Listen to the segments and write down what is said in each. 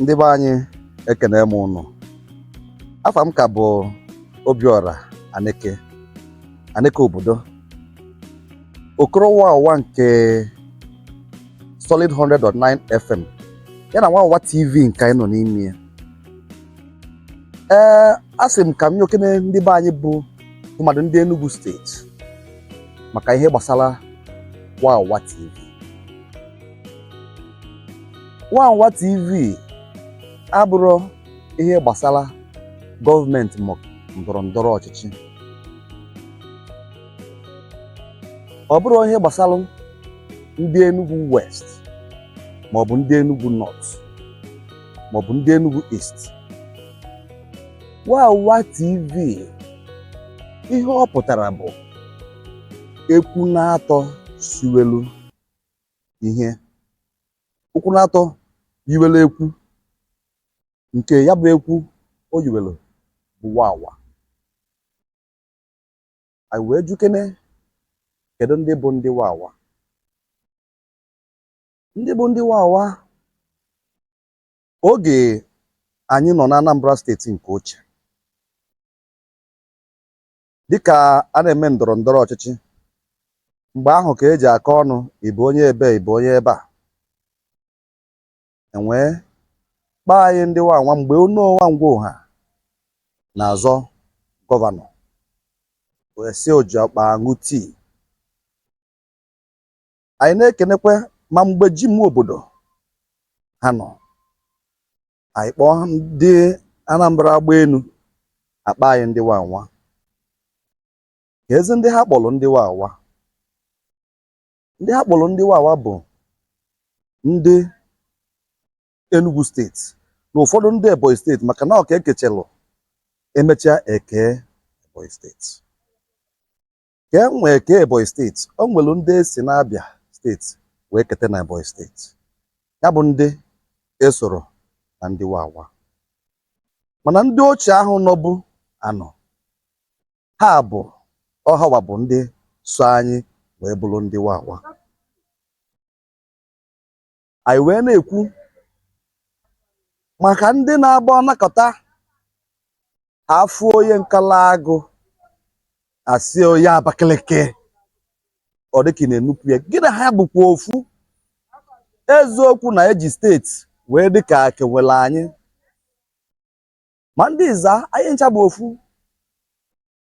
ndị be anyị ekene m ụnụ afa m ka bụ obiọra aneke aneke obodo okoro wawa nke solid 100.9 fm ya na wawa tv nke anyị nọ n'ime ya ee a sị m ka m nyokene ndị be anyị bụ tụmadụ ndị Enugu steeti maka ihe gbasara Wawa TV Wawa TV abụrọ ihe gbasara gọọmenti ma ndọrọ ndọrọ ọchịchị ọ bụrọ ihe gbasara ndị Enugu West maọbụ ndị Enugu North maọbụ ndị Enugu East Wawa TV ihe ọ pụtara bụ ekwu naatọ siwelu ihe ụkwụ naatọ yiwelu ekwu nke ya bụ ekwu o yiwelu bụ wawa anyị wee jụkene kedu ndị bụ ndị wawa ndị bụ ndị wawa oge anyị nọ na Anambra steeti nke ochie dịka a na-eme ndọrọ ndọrọ ọchịchị mgbe ahụ ka eji akọ ọnụ ị bụ onye ebe ị bụ onye ebe a e wee kpọọ anyị ndị wawa mgbe Onoh nwa Ngwo ha na-azọ gọvanọ wee sị o ji ọkpa aṅụ tii anyị na-ekenekwa ma mgbe Jim Nwobodo ha nọ anyị kpọọ ndị Anambra agbaenu akpọ anyị ndị wawa keezi ndị ha kpọrọ ndị wawa ndị ha kpọrọ ndị wawa bụ ndị Enugu steeti na ụfọdụ ndị Ebonyi steeti maka na ọ ka ekechelụ emechaa e kee Ebonyi steeti ka e wee kee Ebonyi steeti o nwere ndị esi n'Abịa steeti wee kete na Ebonyi steeti ya bụ ndị esoro na ndị wawa mana ndị ochie ahụ nọbu anọ ha bụ ọ ha wa bụ ndị so anyị wee bụrụ ndị wawa anyị wee na-ekwu maka ndị na-agba ọnakọta afụ onye Nkalagụ asị onye Abakaliki ọ dịka na-enupụ ya gị na ha bụkwa ofu eziokwu na eji steeti wee dịka kewere anyị ma ndị Iza anyị ncha bụ ofu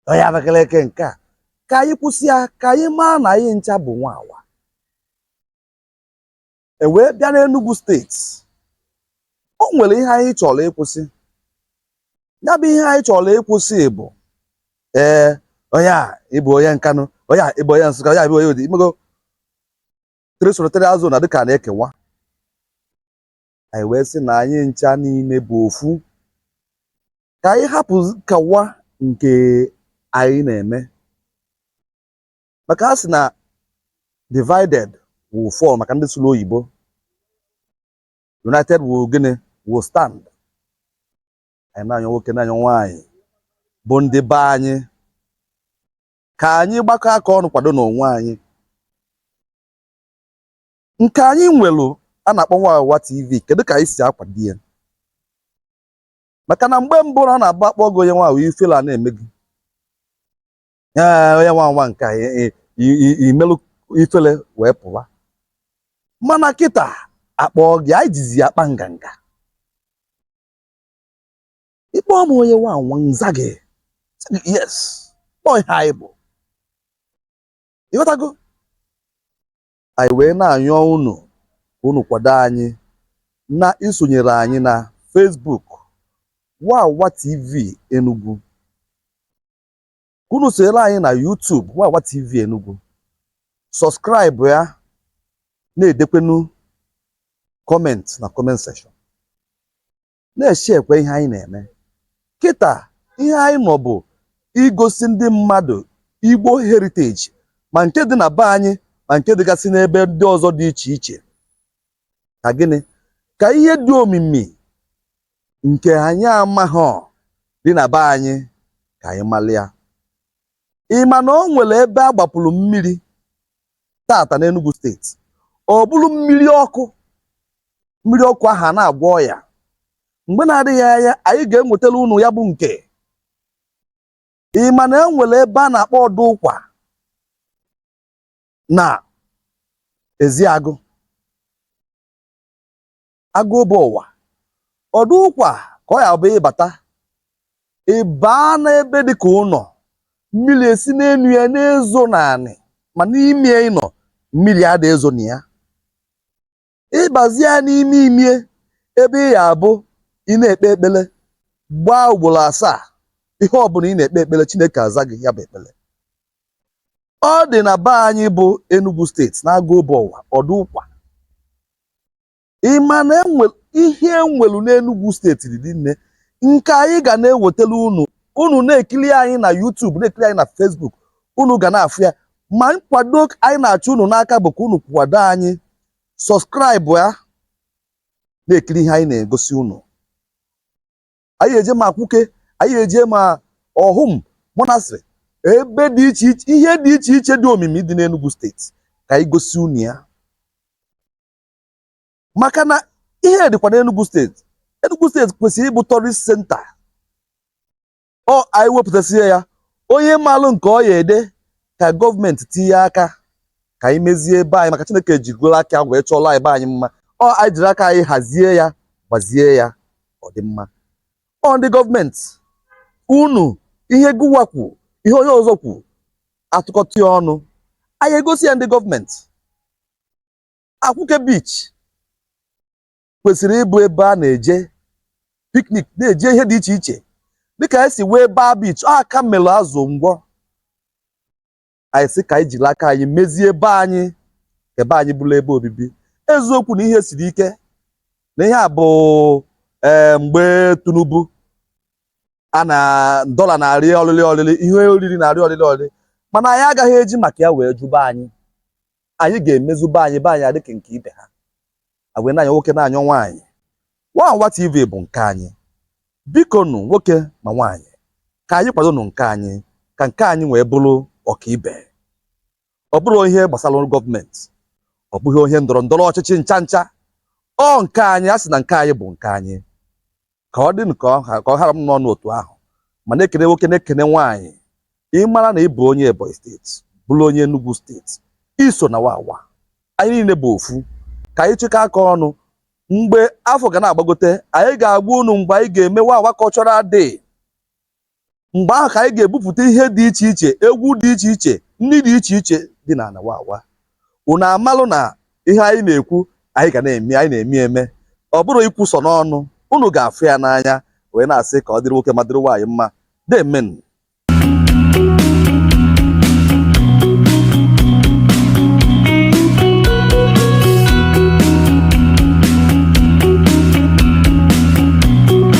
onye Abakaliki nke a ka anyị kwụsị ya ka anyị maa na anyị ncha bụ Wawa e wee bịa n'Enugu steeti o nwere ihe anyị chọrọ ịkwụsị ya bụ ihe anyị chọrọ ịkwụsị bụ ee onye a ịbụ onye Nkanụ onye a ịbụ onye Nsụka onye a ịbụ onye Udi imego three senatorial zone dịka a na-ekewa anyị wee sị na anyị ncha niile bụ ofu ka anyị hapụ nkewa nke anyị na-eme maka a sị na divided we fall maka ndị sụrụ oyibo united we gịnị we stand anyị na-anyọ nwoke na-anyọ nwaanyị bụ ndị be anyị ka anyị gbakọ aka ọnụ kwado n'onwe anyị nke anyị nwere a na-akpọ Wawa TV kedu ka anyị si akwado ya maka na mgbe mbụ na ọ na-abụ akpọ gị onye Wawa ifele a na-eme gị ee onye Wawa nke a i- i- i- i- imelụ ifele wee pụwa mana kịta akpọ gị anyị jizi ya akpa nganga ịkpọ m onye Wawa m za gị sị gị, yes kpọọ ihe anyị bụ ịghọtago anyị wee na-anyọ unu ka unu kwado anyị na isonyere anyị na Facebook Wawa TV Enugu ka unu sonyere anyị na YouTube Wawa TV Enugu sọskraịbụ ya na-edekwenu kọmentị na kọment sekshọn na-eshekwe ihe anyị na-eme kịta ihe anyị nọ bụ igosi ndị mmadụ Igbo heritage ma nke dị na be anyị ma nke dịgasị n'ebe ndị ọzọ dị iche iche ka gịnị ka ihe dị omimi nke anyị amaghị dị na be anyị ka anyị mara ya ị ma na o nwere ebe a gbapụrụ mmiri tata n'Enugu steeti ọ bụrụ mmiri ọkụ mmiri ọkụ ahụ na-agwọ ọya mgbe na-adịghị anya anyị ga-enwetara unu ya bụ nke ị ma na e nwere ebe a na-akpọ ọdụ ụkwa na Ezeagụ Agụobu Ọwa ọdụ ụkwa ka ọ ya bụ ị bata ị baa n'ebe dị ka ụnọ mmiri esi n'enu ya na-ezo n'anị ma n'ime ụnọ mmiri ada ezo na ya ị bazie n'ime imie ebe ị ya abụ ị na-ekpe ekpele gbaa ugboro asaa ihe ọbụna ị na-ekpe ekpele Chineke aza gị ya bụ ekpele ọ dị na be anyị bụ Enugu steeti na Agụobu Ọwa ọdụ ụkwa ị ma na enwe ihe e nwelu n'Enugu steeti dị nne nke anyị ga na-ewetara unu unu na-ekiri anyị na YouTube na-ekiri anyị na Facebook unu ga na-afụ ya ma nkwado anyị na-achọ unu n'aka bụ ka unu kwado anyị subscribe ya na-ekiri ihe anyị na-egosi unu anyị eje ma Akwụke anyị eje ma Awhum Monastery ebe dị iche iche ihe dị iche iche dị omimi dị n'Enugu steeti ka anyị gosi unu ya maka na ihe dịkwa n'Enugu steeti Enugu steeti kwesịrị ịbụ tourist center ọ anyị wepụtasịa ya onye maalụ nke ọ ya ede ka gọọmenti tinye aka ka anyị mezie ebe anyị maka Chineke jigoro aka wee chọọla ebe anyị mma ọ anyị jiri aka anyị hazie ya gbazie ya ọ dị mma ọ ndị gọọmenti nụ ihe gụwa kwu ihe onye ọzọ kwu a tụkọta ya ọnụ anyị egosi ya ndị gọọmenti Akwụke Beach kwesịrị ịbụ ebe a na-eje piknik na-eje ihe dị iche iche dịka anyị si wee baa beach ọ aka melụ azụ ngwọ anyị sị ka anyị jiri aka anyị mezie be anyị ka be anyị bụrụ ebe obibi eziokwu na ihe siri ike na ihe a bụ ee mgbe Tinubu a na dọla na-arị ọlịlị ọlịlị ihe oriri na-arị ọlịlị ọlịlị mana anyị agaghị eji maka ya wee jụ be anyị anyị ga-emezu be anyị be anyị adịka nke ibe ha wee na-anyọ nwoke na-anyọ nwaanyị Wawa TV bụ nke anyị biko nụ nwoke ma nwaanyị ka anyị kwado nụ nke anyị ka nke anyị wee bụrụ ọkaibe ọ bụrọ ihe gbasara gọọmenti ọ bụghị ihe ndọrọ ndọrọ ọchịchị ncha ncha ọ nke anyị a sị na nke anyị bụ nke anyị ka ọ dị ka ọ hara m n'ọnụ otu ahụ ma na-ekene nwoke na-ekene nwaanyị ị mara na ị bụ onye Ebonyi steeti bụrụ onye Enugu steeti i so na wawa anyị niile bụ ofu ka anyị chịkọ aka ọnụ mgbe afọ ga na-agbagote anyị ga-agwa unu mgbe anyị ga-eme wawa cultural day mgbe ahụ ka anyị ga-ebupụta ihe dị iche iche egwu dị iche iche nni dị iche iche dị n'ana wawa unu amalụ na ihe anyị na-ekwu anyị ga na-eme anyị na-eme eme ọ bụrọ ikwu sọ n'ọnụ unu ga-afụ ya n'anya wee na-asị ka ọ dịrị nwoke ma dịrị nwaanyị mma deemenụ